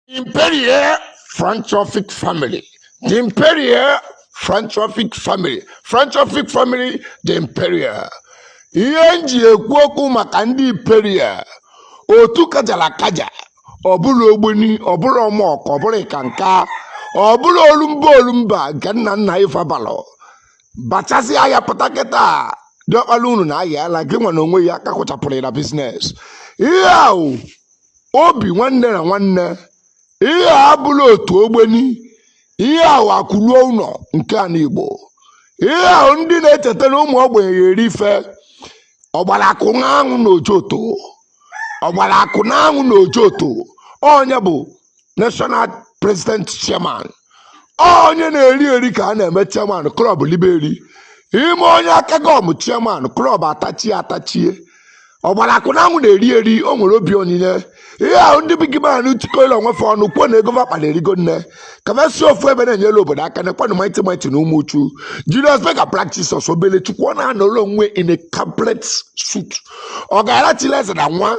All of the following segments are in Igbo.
Imperial Philanthropic family. The Imperial Philanthropic family. Philanthropic family, the Imperial. Ihe nji ekwu okwu maka ndị Imperial. Otu kajara kaja. Ọ bụrọ Ogboni, ọ bụrọ AMORC, ọ bụrọ Eckankar. Ọ bụrọ Olumba Olumba nke nna nna fa balụ. Bachasị ahịa pụta kịta. Diọkpala unu na ahịa ala gị nwa na onwe ya ka kụchapụrụ ya na business. Ihe ahụ obi nwanne na nwanne ihe a abụrọ otu ogboni ihe ahụ akụruo ụlọ nke ala igbo ihe ahụ ndị na-echeta na ụmụ ogbenye ya-eri ife ọgbara akụ n'anwụ na ojoto ọgbara akụ n'anwụ na ojoto onye bụ national president chairman onye na-eri eri ka a na-eme chairman club elibe eri i mee onye aka gọm chairman club atachie atachie ọgbara akụ n'anwụ na-eri eri o nwere obi onyinye ihe ahụ ndị big man tikọrọ onwe fa ọnụ kwuo na ego va kpa na-erigo nne ka fa si ofu ebe na-enyere obodo aka na kwanụ mighty mighty na Umuchu Julius Berger practice ọsọ obele chukwu ọ na-anọrọ onwe in a complete suit ọgaranya chili eze na nwa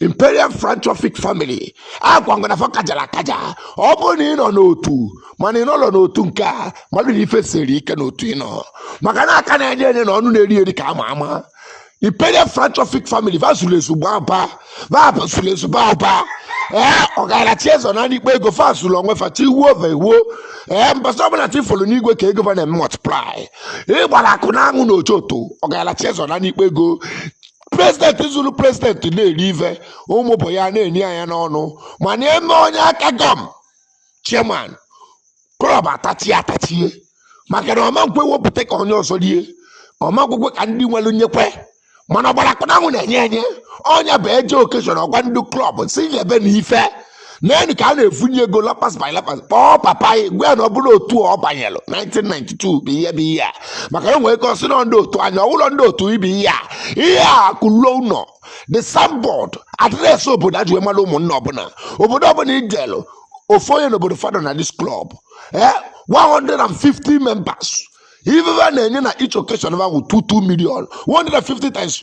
imperial philanthropic family agwa m gị na fa kajara akaja ọ bụrụ na ị nọ n'otu mana ị nọrọ n'otu nke a malụ na ife siri ike n'otu ị nọ maka na aka na-enye enye na ọnụ na-eri eri ka ama ama imperial philanthropic family va zuru ezu gbaa aba va zuru ezu gbaa aba ee ọgaranya chiezo na ikpe ego fa zuru onwe fa chi wuo va ewuo ee mbọsị ọbụla chi folu n'igwe ka ego va na-eme multiply ọgbara akụ n'anwụ na ojoto ọgaranya chiezo na ikpe ego president zuru president na-eri ife ụmụ ogbenye na-ene ya anya n'ọnụ mana e mee onye aka gọm chairman club atachie atachie maka na ọ man kwe wepụta ka onye ọzọ rie ọ man kwekwe ka ndị nwere nyekwe mana ọgbara akụ n'anwụ na-enye enye onye bụ e je occasion ọ gwa ndị club si nyebe na ife naanị ka a na-efunye ego lapas by lapas kpọọ papa anyị gwa ya na ọ bụrọ otu ọ banyelụ 1992 bụ ihe bụ ihe a maka e nwere ike ọ sị na ndị otu anyị ọ wụrọ ndị otu ibe ihe a ihe a kụluo ụlọ the signboard address obodo a ji wee mara ụmụnna ọbụla obodo ọbụla ijelụ ofu onye n'obodo fa dọ na this club eh 150 members ife ha na-enye na each occasion ha wụ 22 million 150 times